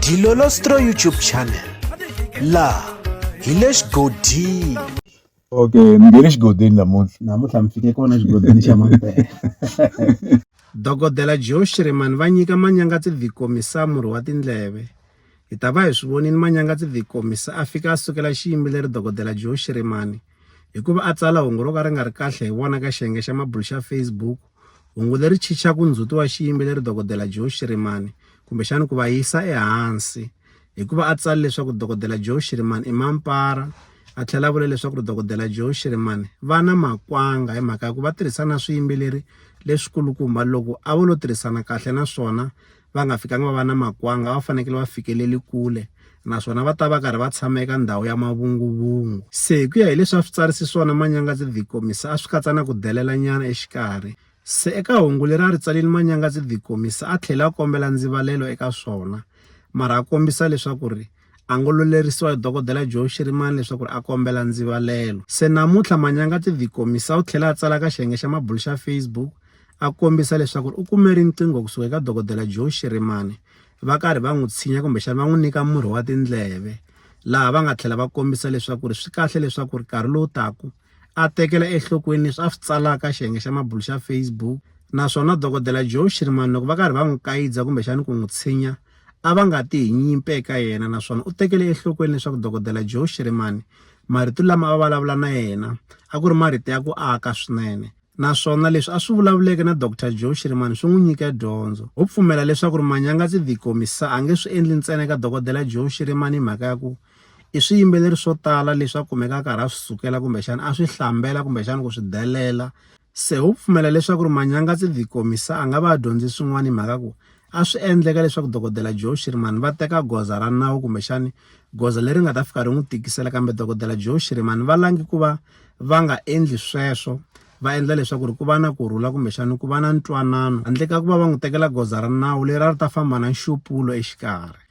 Dilolostro YouTube channel laha hi le xigodini okay ni nge le xigodini namuntlha namuntlha mi fike kona xigodini xa mampela dokodela joe shiremani va nyika manyangatsi vikomisa murhi wa tindleve hi ta va hi swi vonini manyangatsi vikomisa a fika a sukela xiyimbeleri dokodela joe shiremani hikuva a tsala hungu ro ka ri nga ri kahle hi vona ka xiyenge xa mabulu xa facebook Hungu leri chicha ku ndzhuti wa xiyimbeleri Dokodela Joe Shirimani kumbexana ku va yisa ehansi hikuva a tsale leswaku Dokodela Joe Shirimani i mampara a tlhela a vula leswaku ri Dokodela Joe Shirimani va na makwanga hi mhaka ya ku va tirhisana swiyimbeleri leswikulukumba loko a vo lo tirhisana kahle naswona va nga fikanga va va na makwanga va fanekele va fikeleli kule naswona va ta va karhi va tshama eka ndhawu ya mavunguvungu se hi ku ya hileswi a swi tsarisi swona manyangatsi the komisa a swi katsa na ku delela nyana exikarhi se eka hungu leri a ri tsalile manyangatsi the komisa a tlhela a kombela ndzivalelo eka swona mara a kombisa leswaku ri a ngo lo lerisiwa hi dokodela Joe Shirimani leswaku ri a kombela ndzivalelo. Se namuntlha Manyanga Tivikomisa u tlhele a tsala ka xiyenge xa mabulu xa Facebook a kombisa leswaku ri u kume riqingho kusuka eka dokodela Joe Shirimani va karhi va n'wi tshinya kumbexana va n'wi nyika murhi wa tindleve laha va nga tlhela va kombisa leswaku ri swi kahle leswaku ri nkarhi lowu taka A tekela enhlokweni leswi a swi tsalaka xiyenge xa mabulo xa Facebook naswona dokodela Joe Shirimani loko va karhi va n'wi kayidza kumbexani ku n'wi tshinya a va nga ti hi nyimpi eka yena naswona u tekele enhlokweni leswaku dokodela Joe Shirimani marito lama a va vulavula na yena a ku ri marito ya ku aka swinene naswona leswi a swi vulavuleke na Dr Joe Shirimani swi n'wi nyike dyondzo u pfumela leswaku ri Manyanga Tsidikomisa a nge swi endli ntsena eka dokodela Joe Shirimani hi mhaka ya ku I swiyimbeleri swo tala leswi a kumeka a karhi a swi sukela kumbexana a swi hlambela kumbexana ku swi delela se ho pfumela leswaku ri manyanga tse ti komisa a nga va a dyondze swin'wana hi mhaka ku a swi endleka leswaku dokodela joe shirimani va teka goza ra nawu kumbexani goza leri nga ta fika ri n'wi tikisela kambe dokodela joe shirimani va langi ku va va nga endli sweswo va endla leswaku ri ku va na ku rhula kumbexani ku va na ntwanano handle ka ku va va n'wi tekela goza ra nawu leri a ri ta famba na nxupulo exikarhi